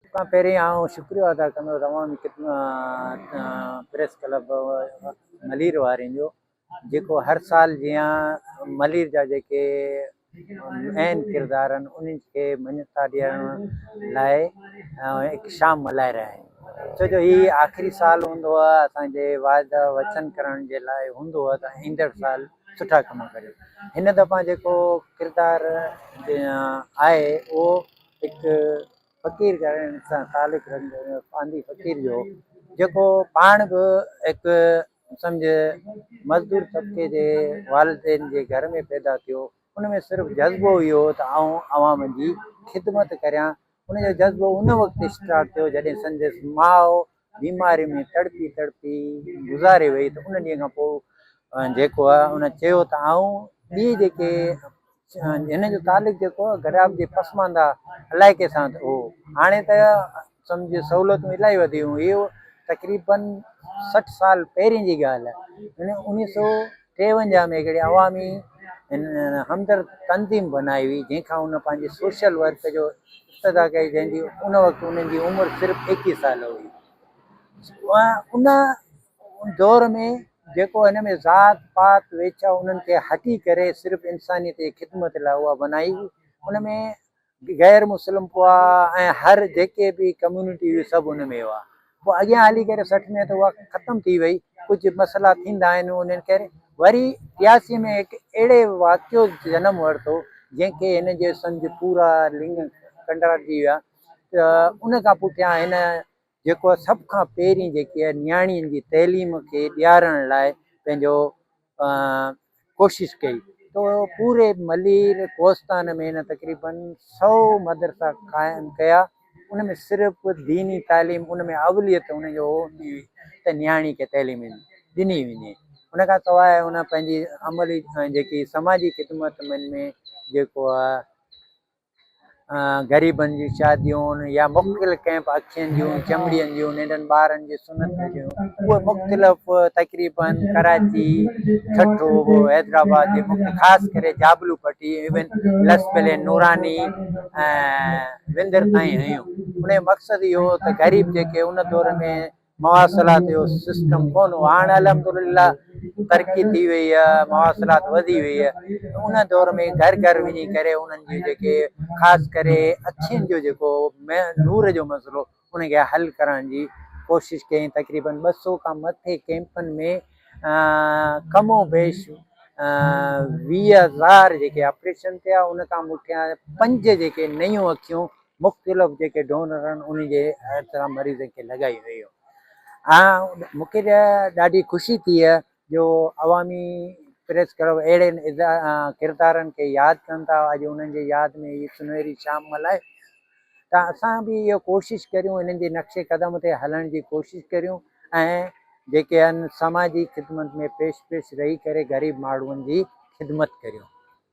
سڀ کان پهرين آئون شڪريو ادا ڪندو روان پريس ڪلب ملير وارين جو جيڪو هر سال جيان ملير جا جيڪي اهم ڪردار آهن انهن کي مڃتا ڏيڻ لاء هڪ شام ملهائي رهيا آهن ڇو جو هي آخري سال هوندو هو اسان جي واعدا وچن ڪرڻ جي لاء هوندو هو ته ايندڙ سال سٺا ڪم ڪريو هن دفعا جيڪو ڪردار آهي اهو هڪ فقير ڳائڻ سان خالق رنگ ۾ پانڌي فقير جو جيڪو پاڻ به هڪ سمجهه مزدور طبقي جي والدين جي گهر ۾ پيدا ٿيو ان ۾ صرف جذبو اهو هو ته آئون عوام جي خدمت ڪريان ان جو جذبو ان وقت اسٽارٽ ٿيو جڏهن سندس ماء بيماري ۾ تڙپي تڙپي گذاري وئي ته ان ڏينهن کان پوء جيڪو آهي ان چيو ته آئون ٻي جيڪي هن جو تعلق جيڪو آهي گراب جي پسماندا علائقي سان هو هاڻي ته سمجھ سهولتون الاهي وڌيون هيو تقريبن سٺ سال پهرين جي ڳالهه آهي ان انيس سو ٽيونجاهه ۾ هڪڙي عوامي همدرد تنظيم بنائي هئي جنهن کان هن پنهنجي سوشل ورڪ جو ابتدا ڪئي جنهن جي ان وقت انهن جي عمر صرف ايڪيهه سال هئي ان ان دور ۾ جيڪو هن ۾ ذات پات ويڇا انهن کي هٽي ڪري صرف انسانيت جي خدمت لاء اها بنائي هئي ان ۾ غير مسلم پوا ۽ هر جيڪي به ڪميونٽي هئي سڀ ان ۾ هئا پوء اڳيان هلي ڪري سٺ ۾ ته اها ختم ٿي وئي ڪجهه مسئلا ٿيندا آهن انهن ڪري وري ٽياسي ۾ هڪ اهڙي واقعو جنم ورتو جنهن کي هن جي سمجھ پورا لنگ ڪنڊار جي ويا ته ان کان پٺيان هن جيڪو سڀ کان پهرين جيڪي نياڻين جي تعليم کي ڏيارڻ لاء پنهنجو ڪوشش ڪئي تو پوري ملير ڪوستان ۾ هن تقريبن سو مدرسا قائم ڪيا ان ۾ صرف ديني تعليم ان ۾ اوليت ان جو هوندي هئي ته نياڻي کي تعليم ڏني وڃي ان کان سواء ان پنهنجي عملي جيڪي سماجي خدمت من ۾ جيڪو غريبن جون شاديون يا مختلف ڪئمپ اکين جون چمڙين جون ننڍن ٻارن جي سنت جون اهي مختلف تقريبا ڪراچي ٺٽو حيدرآباد جي مختلف خاص ڪري جابلو پٽي ايون لس پلي نوراني وندر تائين هيون ان جو مقصد اهو هو ته غريب جيڪي ان دور ۾ مواصلات جو سسٽم ڪون هو هاڻ الحمدلله ترقي ٿي وئي آ مواصلات وڌي وئي آ ان دور ۾ گهر گهر وڃي ڪري انهن جي جيڪي خاص ڪري اکين جو جيڪو نور جو مسئلو ان کي حل ڪرڻ جي ڪوشش ڪئي تقريبن ٻه سو کان مٿي ڪيمپن ۾ کم و بيش ويهه هزار جيڪي آپريشن ٿيا ان کان مون کي پنج جيڪي نيون اکيون مختلف جيڪي ڊونر آهن انهن جي هر طرح مريضن کي لڳائي ويو ۽ مونکي ته ڏاڍي خوشي ٿي جو عوامي پريس ڪلب اهڙي ڪردارن کي ياد ڪن ٿا اڄ انهن جي ياد ۾ هي سنهري شام ملائي ته اسان به اهو ڪوشش ڪريون انهن جي نقشي قدم تي هلڻ جي ڪوشش ڪريون ۽ جيڪي آهن سماجي خدمت ۾ پيش پيش رهي ڪري غريب ماڻهن جي خدمت ڪريون